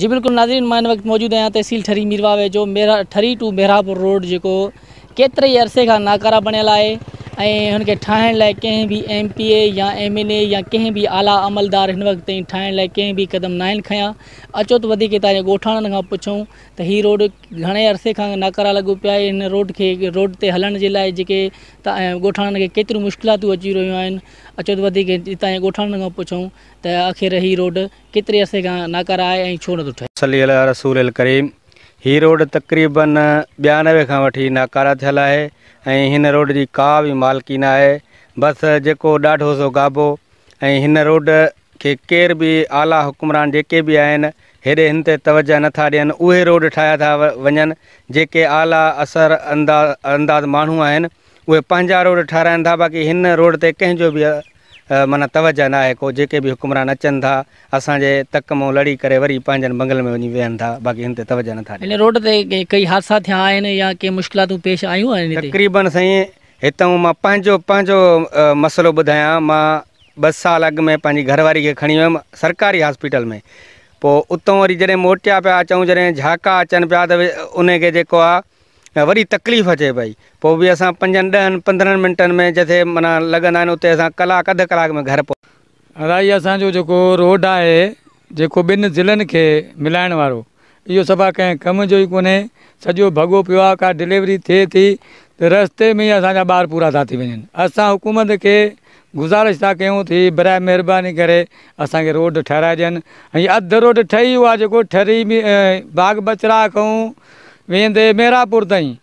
جي بلڪل ناظرين مان ان وقت موجود آهيان تحصيل ٺري مير واهه ويجهو ٺري ٽو مهراپور روڊ جيڪو ڪيتري ئي عرصي کان ناڪارا بڻيل آهي ۽ هن کي ٺاهڻ لاء ڪنهن به ايم پي اي يا ايم اين اي يا ڪنهن به اعليٰ عملدار هن وقت تائين ٺاهڻ لاء ڪنهن به قدم ناهن کنيا اچو ته وڌيڪ هتان جي ڳوٺاڻن کان پڇون ته هي روڊ گهڻي عرصي کان ناڪارا لڳو پيا آهي هن روڊ کي روڊ تي هلڻ جي لاء جيڪي ڳوٺاڻن کي ڪيتريون مشڪلاتون اچي رهيون آهن اچو ته وڌيڪ هتان جي ڳوٺاڻن کان پڇون ته آخر هي روڊ ڪيتري عرصي کان ناڪارا آهي ۽ ڇو نٿو ٺهي صلي عليٰ رسول الڪريم هي روڊ تقريبن ٻيانوي کان وٺي ناڪارا ٿيل آهي ۽ هن روڊ جي ڪا به مالڪي ناهي بس جيڪو ڏاڍو سو گابو ۽ هن روڊ کي ڪير به اعليٰ حڪمران جيڪي به آهن هيڏي هن تي توجهه نه ٿا ڏين اهي روڊ ٺاهيا ٿا وڃن جيڪي اعليٰ اثر انداز ماڻهو آهن اهي پنهنجا روڊ ٺهرائن ٿا باقي هن روڊ تي ڪنهن جو به معنيٰ توجهه نه آهي ڪو جيڪي به حڪمران اچن ٿا اسان جي تڪ مون لڙي ڪري وري پنهنجن بنگلن ۾ وڃي ويهن ٿا باقي هن تي توجهه نه ٿا ڏين هن روڊ تي ڪئي حادثا ٿيا آهن يا ڪي مشڪلاتون پيش آيون آهن هتي؟ تقريبن سائين هتئون مان پنهنجو پنهنجو مسئلو ٻڌايان مان ٻه سال اڳ ۾ پنهنجي گهر واري کي کڻي ويم سرڪاري هاسپيٽل ۾ پوء اتون وري جڏهن موٽيا پيا اچون جڏهن جهاڪا اچن پيا ته ان کي جيڪو آهي وڏي تڪليف اچي پئي پوء به اسان پنجن ڏهن پندرهن منٽن ۾ جتي مانا لڳندا آهن اتي اسان ڪلاڪ اڌ ڪلاڪ ۾ گهر پهچ ادا هي اسان جو جيڪو روڊ آهي جيڪو ٻن ضلعن کي ملائڻ وارو اهو صفا ڪنهن ڪم جو ئي ڪونهي سڄو ڀڳو پيو آهي ڪا ڊليوري ٿئي ٿي ته رستي ۾ ئي اسان جا ٻار پورا ٿا ٿي وڃن اسان حڪومت کي گذارش ٿا ڪيون ٿي برائي مهرباني ڪري اسان کي روڊ ٺهرائي ڏين ۽ اڌ روڊ ٺهي اهو آهي جيڪو ٺري باغ بچراء کان ويندي ميرا پور تائين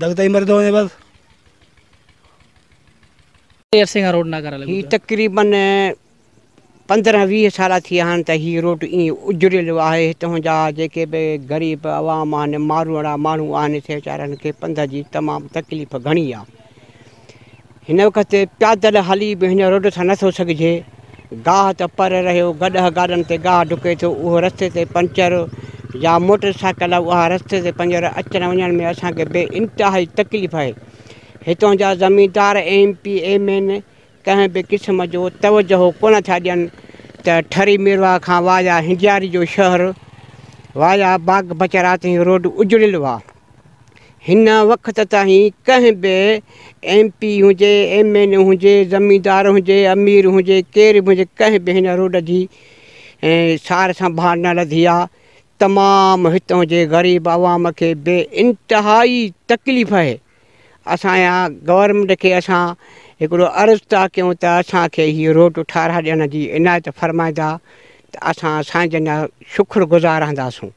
دگ تائين مري ٿو وڃي بس. هي تقريبن پندرهن ويهه سال ٿي ويا آهن ته هي روڊ ائين اجڙيل آهي، هتان جا جيڪي به غريب عوام آهن، ماروئڙا ماڻهو آهن، سي ويچارن کي پنڌ جي تمام تڪليف گهڻي آهي. هن وقت پيادل هلي به هن روڊ سان نٿو سگهجي. گاهه ته پر رهيو، گڏهه گاڏن تي گاهه ڍڪي ٿو، اهو رستي تي پنچر يا موٽر سائيڪل اها رستي تي پنجر اچڻ وڃڻ ۾ اسان کي بي انتهائي تڪليف آهي. هتان جا زميندار ايم پي ايم اين ڪنهن به قسم جو توجهه ڪونه ٿا ڏين ته ٺري ميرواهه کان وايا هنجياري جو شهر وايا باغ بچرا تائين روڊ اجڙيل هئا. هن وقت تائين ڪنهن به ايم پي هجي ايم اين اي هجي زميندار هجي امير هجي ڪير به هجي ڪنهن به هن روڊ جي سار سنڀال نه لڌي آهي تمام هتون جي غريب عوام کي بي انتهائي تڪليف آهي اسان جا گورنمنٽ کي اسان هڪڙو عرض ٿا ڪيون ته اسان کي هي روڊ ٺارا ڏيڻ جي عنايت فرمائيندا ته اسان سائين جن جا شڪر گذار رهنداسون